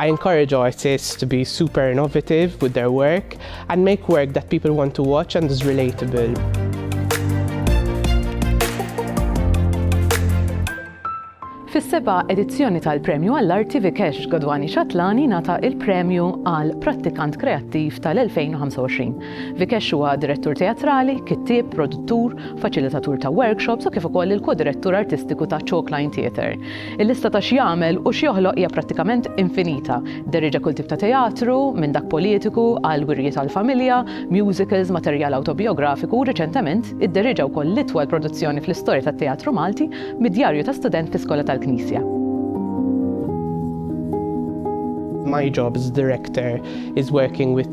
I encourage artists to be super innovative with their work and make work that people want to watch and is relatable. Fis-seba' edizzjoni tal-Premju għall-Arti Vikesh Godwani Xatlani nata il-premju għal Prattikant Kreattiv tal-2025 Vikesh huwa direttur teatrali, kittieb, produttur, faċilitatur ta' workshops u kif ukoll il-ko-direttur artistiku ta' Chalk Line Theatre. Il-lista ta' x'jagħmel u x'joħloq hija prattikament infinita. Derrieġa kull tip ta' teatru, minn dak politiku għal wirjiet għall-familja, musicals, materjal awtobijografiku u riċentement idderrieġa wkoll l-itwal produzzjoni fl-istorja tat-teatru Malti mid-djarju ta' student fi skola tal-Knisja. My jobs director is working with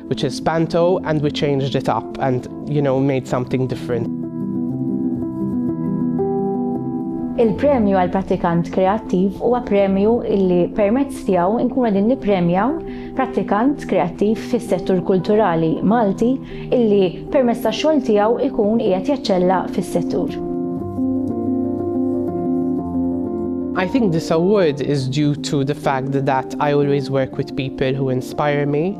which is panto and we changed it up and you know made something different. Il-premju għal prattikant kreattiv huwa premju illi permezz tiegħu nkunu qegħdin nippremjaw prattikant kreattiv fis-settur kulturali Malti illi permezz tax-xogħol tiegħu ikun qiegħed jaċċella fis-settur. I think this award is due to the fact that I always work with people who inspire me.